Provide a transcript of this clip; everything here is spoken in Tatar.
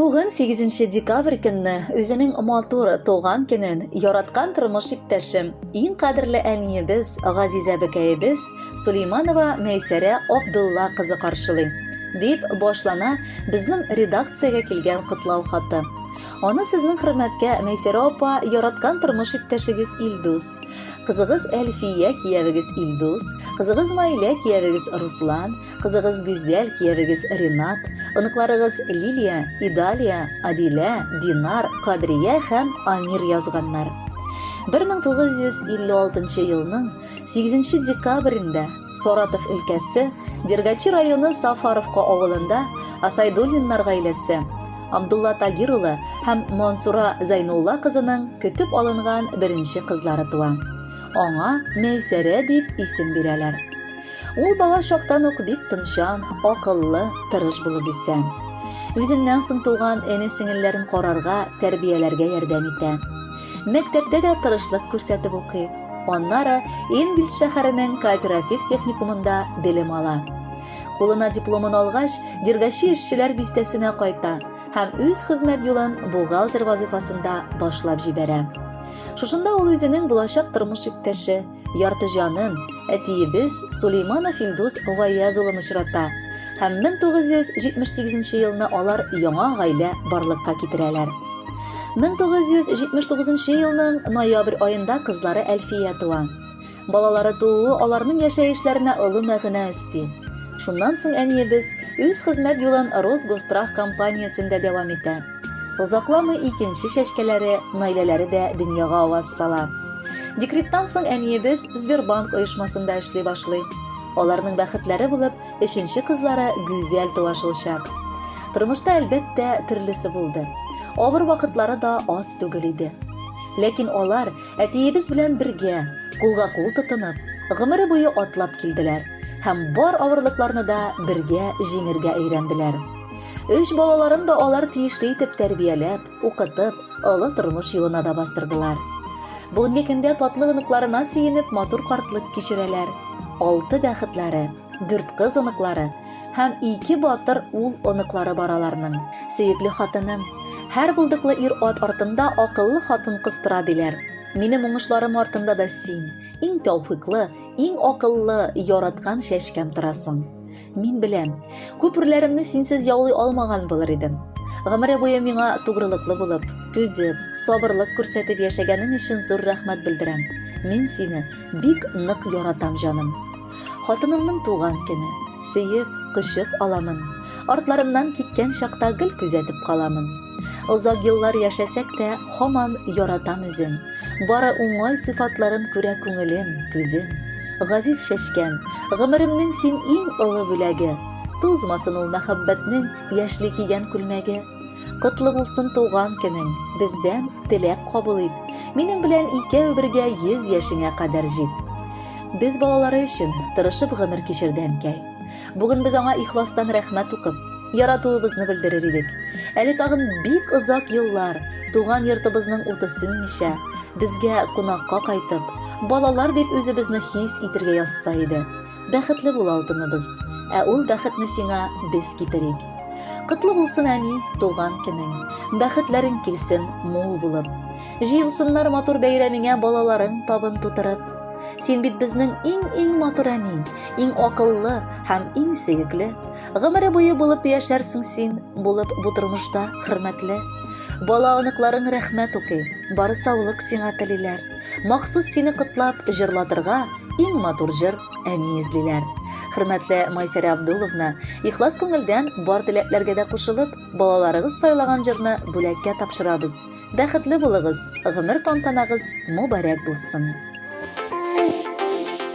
Бүген 8 декабрь көнне үзенең матур туган көнен яраткан тормыш иптәшем, иң кадерле әниебез, газизә бекәебез Сулейманова Мәйсәрә Абдулла кызы каршылый, дип башлана безнең редакциягә килгән котлау хаты. Аны сезнең хөрмәткә Мәйсәрә апа яраткан тормыш иптәшегез Илдус, Кызыгыз Әлфия, киявегез Илдус, кызыгыз Наилә, киявегез Руслан, кызыгыз Гүзәл, киявегез Ринат, оныкларыгыз Лилия, Идалия, Адилә, Динар, Кадрия һәм Амир язганнар. 1956 елның 8 декабрендә Саратов өлкәсе Дергачи районы Сафаровка авылында Асайдуллиннар гаиләсе Абдулла Тагир улы һәм Мансура Зәйнулла кызының көтеп алынган беренче кызлары туа. Аңа Мәйсәрә дип исем бирәләр. Ул бала чактан ук бик тынчан, акыллы, тырыш булып үсә. Үзеннән соң туган эне-сеңелләрен карарга, тәрбияләргә ярдәм итә. Мәктәптә дә тырышлык күрсәтеп укый. Аннары Энгельс шәһәренең кооператив техникумында белем ала. Кулына дипломын алгач, Дергачи эшчеләр бистәсенә кайта һәм үз хезмәт юлын бухгалтер вазыйфасында башлап җибәрә. Шушында ул үзенең булачак тормыш иптәше, ярты җанын, әтиебез Сулейманов Илдус Гаяз улын очрата һәм 1978 елны алар яңа гаилә барлыкка китерәләр. 1979 елның ноябрь аенда кызлары Әлфия туа. Балалары тууы аларның яшәешләренә олы мәгънә өсти. Шуннан соң әниебез үз хезмәт юлын Росгострах компаниясендә дәвам итә. Озакламый икенче чәчкәләре, Наиләләре дә дөньяга аваз сала. Декреттан соң әниебез Сбербанк оешмасында эшли башлый. Аларның бәхетләре булып, өченче кызлары Гүзәл туа шулчак. Тормышта, әлбәттә, төрлесе булды. Авыр вакытлары да аз түгел иде. Ләкин алар Әтиебез белән бергә, кулга-кул тотынып, гомере буе атлап килделәр һәм бар авырлыкларны да бергә җиңергә өйрәнделәр. Өч балаларын да алар тиешле итеп тәрбияләп, укытып, олы тормыш юлына да бастырдылар. Бүгенге көндә татлы оныкларына сөенеп матур картлык кичерәләр. Алты бәхетләре, Дүрт кыз оныклары һәм ике батыр ул оныклары бар аларның. Сөекле хатыным, һәр булдыклы ир-ат артында акыллы хатын-кыз тора, диләр. Минем уңышларым артында да син, иң тәүфыйклы, иң акыллы, яраткан чәчкәм торасың. Мин беләм, күп үрләремне синсез яулый алмаган булыр идем. Гомере буе миңа тугрылыклы булып, түзеп, сабырлык күрсәтеп яшәгәнең өчен зур рәхмәт белдерәм. Мин сине бик нык яратам, җаным. Хатынымның туган көне. Сөеп, кочып аламын. Артларымнан киткән чакта гел күзәтеп каламын. Озак еллар яшәсәк тә, һаман яратам үзен. Бары уңай сыйфатларын күрә күңелем, күзем. Газиз чәчкән, гомеремнең син иң олы бүләге. Тузмасын ул мәхәббәтнең яшьли кигән күлмәге. Котлы булсын туган көнең, бездән теләк кабул ит. Минем белән икәү бергә 100 яшеңә кадәр җит. Без балалары өчен тырышып гомер кичерде әнкәй. Бүген без аңа ихластан рәхмәт укып, яратуыбызны белдерер идек. Әле тагын бик озак еллар туган йортыбызның уты сүнмичә, безгә кунакка кайтып, балалар дип үзебезне хис итергә язса иде. Бәхетле бул алтыныбыз, ә ул бәхетне сиңа без китерик. Котлы булсын әни, туган көнең. Бәхетләрең килсен мул булып. Җыелсыннар матур бәйрәмеңә балаларың табын тутырып. Син бит безнең иң-иң матур әни, иң акыллы һәм иң сөекле. Гомере буе булып яшәрсең син, булып бу тормышта хөрмәтле. Бала оныкларың рәхмәт укый, бары саулык сиңа телиләр. Махсус сине котлап җырлатырга иң матур җыр әни эзлиләр. Хөрмәтле Майсәрә Абдуловна, ихлас күңелдән бар теләкләргә дә кушылып, балаларыгыз сайлаган җырны бүләккә тапшырабыз. Бәхетле булыгыз, гомер тантанагыз мобарәк булсын!